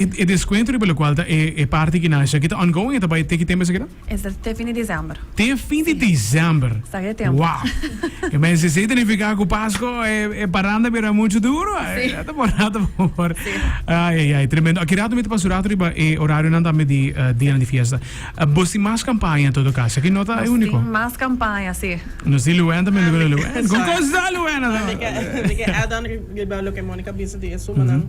E deskuento riba lokual ta e parti ki nasha ki ta ongoing e ta bai te ki tember sekere? E ta te fin di desèmber. Te fin di desèmber. Sa ke tempu. Wow! E mester si identifiká ku Pasko e paranda bira muchu duru. E ta por rato por. Ai ai ai tremendo. Aki rato mi ta pasa un rato riba e orarionan tambe di dianan di fiesta. Bos tin mas kampaña en todo kaso. Aki no ta e úniko. Nos tin mas kampaña si. Nos tin Luen tambe luego na Luen. Kon kos ta Luen ato? Mester add on riba loke Monica bisa di e sumanan.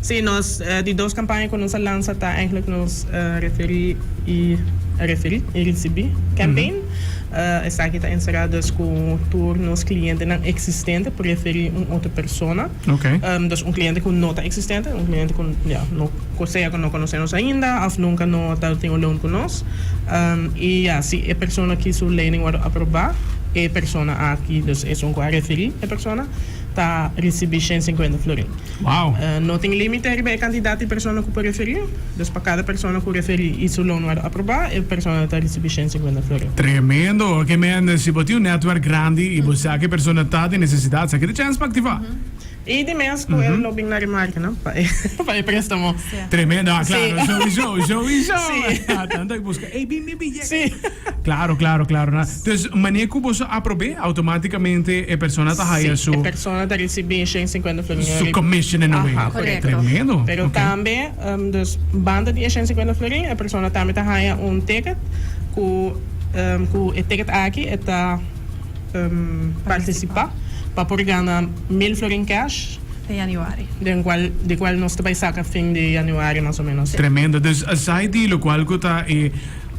Sí, nos di dos kampaña ku nos a lansa ta eigenlijk nos referí i referí i risibí campaign. Esaki ta enserá dus ku tur nos klientenan eksistente por referí un otro persona. Dus un kliente ku no ta eksistente, un kliente ku ya no ku sea ku no konosé nos ainda òf nunka no ta tin un loan ku nos. I ya si e persona ki su lening wòrdu aprobá, e persona aki, dus esun ku a referí e persona, ta ricibi shen cincuenta florin. Wow! No tin limite riba e cantidad di persona cu por referi, dus pa cada persona cu referi y su loan word aproba, e persona ta ricibi shen cincuenta florin. Tremendo! Ok men, si bo tin un netwerk grandi y bo sa cu e persona ta den necesidad, esaki ta chance pa activa. Y di mes cu el lo bin na remarca no, pa e prestamo. Tremendo! Ah, claro, sowieso, sowieso! Tanto e busca, ey bin! Sí. Claro, claro, claro. Na. Entonces, manera cu boso a aprobé, automáticamente e persona ta haya Sí, su. e persona ta ricibi e shen cincuenta florin Su riba. commission en a way. Aha, correcto. Tremendo. Pero Ok. tambe, em, dus banda di e shen cincuenta florin, e persona tambe ta haya un ticket cu, em, cu e ticket aki e ta, em, participa pa por gana mil florin cash. te Januari. Den cual di cual nos ta bay saca fin di Januari mas o menos. Tremendo. Dus aside di locual cu ta e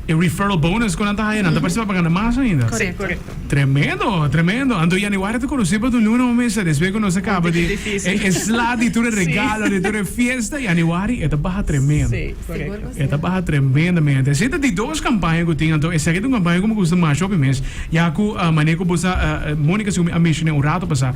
e referral bonus cu nan ta haya nan ta parcibá pa gana mas ainda. Si, correcto. Tremendo, tremendo. Anto Januari ta conoce pa tu luna, bo mester, despues cu nos a caba di e sla di tur e regalo, di tur e fiesta, Januari e ta baha tremendo. Si, correcto. E ta baha tremendamente. Asina ta di dos campaña cu tin, anto esaki ta un campaña cu mi gusta masha hopi mes, ya cu mane cu bo sa Monica, segun mi a mencion'é un rato pasá,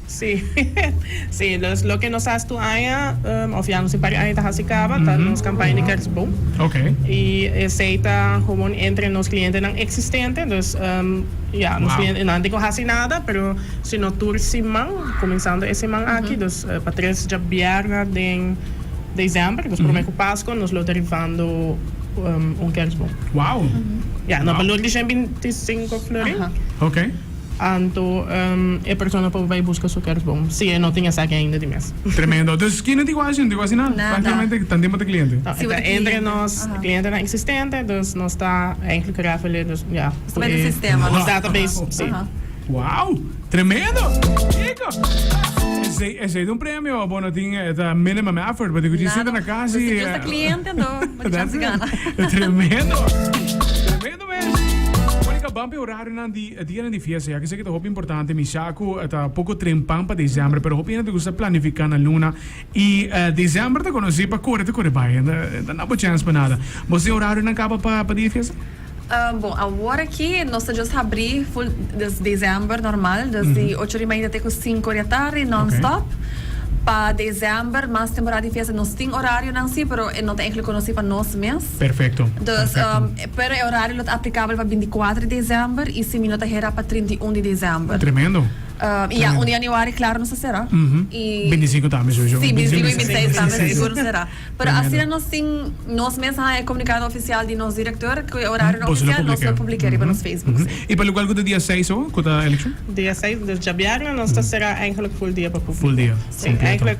Sí, sí, los loke nos has tu aña, of ya nos e pari aña ta hasi caba, ta nos campaña di kerstboom. Y esey ta gewoon entre nos clientenan existente, dus ya, nos cliente no anti con hasi nada, pero sino tur siman, comenzando e siman aki, dus pa tres dja bierna den december, dus prome cu pasco, nos lo ta rifando un kerstboom. Ya, nos balor di shenbintisinco florin. Anto e persona por bai buska su kersboom si e no tin esaki ainda di mes. Tremendo. Dus ki no tin ku ashi, no tin ku asina, práktikamente tan tempu ta kliente. No, e ta entre nos klientenan eksistente, dus nos ta enklik rèfele, dus ya ku e. Nos ta bes den sistema. Nos database, si. Wou! Tremendo! Chico! Esei, esei ta un premio, bo no tin, e ta minimum effort, but e kuchi sinta na kas i. Nada. Nos ta jus ta kliente, anto bo ta chance gana. Tremendo! Tremendo! Monica ban pa e horarionan di e dianan di fiesta ya, kiseki ta hopi importante mishá ku ta poko trempan pa desèmber, pero hopi hende ta gusta planifiká nan luna i desèmber ta konosí pa kore ta kore bai, no ta naba chèns pa nada. Bos tin horarionan kaba pa pa dia di fiesta? Bon, awor aki nos ta just habrí ful des desèmber normal, des di ocho di mainta te ku sinku di atardi nonstòp. Pa desèmber, mas temporada di fiesta, nos tin horarionan sí, pero e no ta enkel konosí pa nos mes. Perfekto, perfekto. Pero e horario lo ta aplicabel pa binticuater di december y si mi no ta hera pa trinta y un di december. Tremendo. Y ya un di januari claro nos a cera. Y Binticinco tambe sowieso. Sí, binticinco y bintiseis tambe sigur nos a cera. Pero asina nos tin, nos mes haña e comunicado oficial di nos director cu e horario no oficial nos lo publica riba nos Facebook, sí. Y pa lugal cu ta dia seis awo cu ta election? Dia seis, djabièrnè, nos ta cera eigenlijk full dia pa publico. Full dia, completo. Sí, eigenlijk.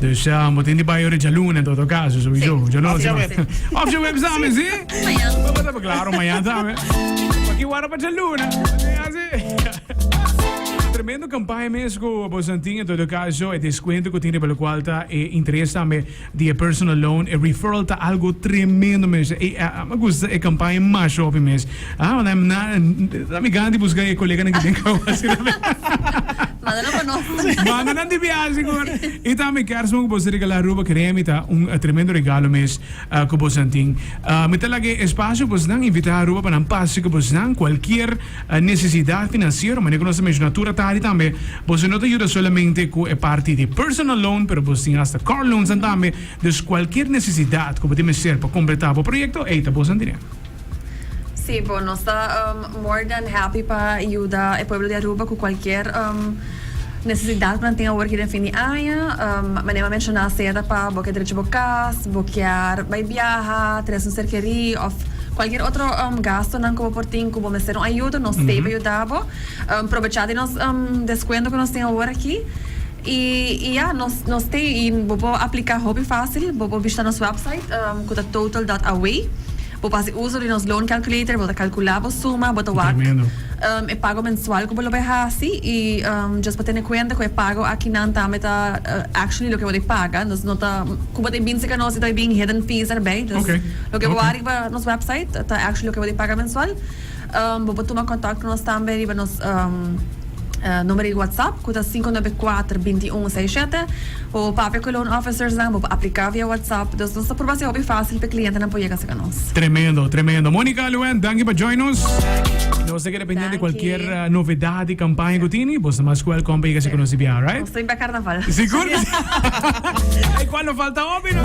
Dus bo tin di bai ora djaluna en todo caso, sobijo. Sí. Of djaweb. Of djaweb samen, sí. Mañan. Claro, mañan samen. Aki wara pa djaluna. Tremendo campaña mes cu Bosantin en todo caso e descuento cu tin lo cual ta e interes tambe di e personal loan e referral ta algo tremendo mes e me gusta e campaña masha hopi mes ah na mi gan di busca e coleganan ki den causa Manda nan pa nos. Manda nan di biaha sigur. Y tambe kers bon cu boso ta regala Aruba Creme y ta un tremendo regalo mes cu bosonan tin. Mi ta laga e espacio cu bosonan invita Aruba pa nan pasa cu bosonan cualkier necesidad financiero. Manera cu nos ta menciona tur atari tambe boso no ta yuda solamente cu e parti di personal loan pero boso tin hasta car loans tambe. Dus cualkier necesidad cu bo ta mester pa completa bo proyecto ey ta bosonan dine. Sí bo, nos ta more dan happy pa yuda e pueblo di Aruba cu cualkier necesidad cu nan tin awor aki den fin di aña. Mane bo a menciona acerda pa bo kier drecha bo cas, bo kier bay biaha, tres un serkeri of cualkier otro gastonan cu bo por tin cu bo mester un ayudo, nos stay pa yuda bo. Probecha di nos descuento cu nos tin awor aki. Y y ya, nos nos te y bo por aplica hopi facil. Bo por bishita nos website cu ta total.away. Bo por haci uzo di nos loan calculator, bo ta calcula bo suma, bo ta wak e pago mensual cu bo lo bay haci y just pa tene cuenta cu e pago akinan tambe ta actually loke bo bay paga. Entonces no ta, cu bo ta bin seca nos y ta bin hidden fees erbij. Loke bo wak riba nos website ta actually loke bo bay paga mensual. Bo por tuma kontak ku nos tambe riba nos numero di WhatsApp ku ta sinku nove kuater binti un sei shete. Bo por papia ku e loan officers nan, bo por apliká via WhatsApp. Dus nos ta purba hasi hopi fásil pa e klientenan por yega serka nos. Tremendo, tremendo. Monica Luen, danki pa join nos. Nos ta keda pendiente kualkier novedad di kampaña ku tini. Bo ta mas welkom pa yega hasi ku nos di biaha, right? Nos ta bin pa Karnaval. Sigur ke si. Ey, kual lo falta hopi no.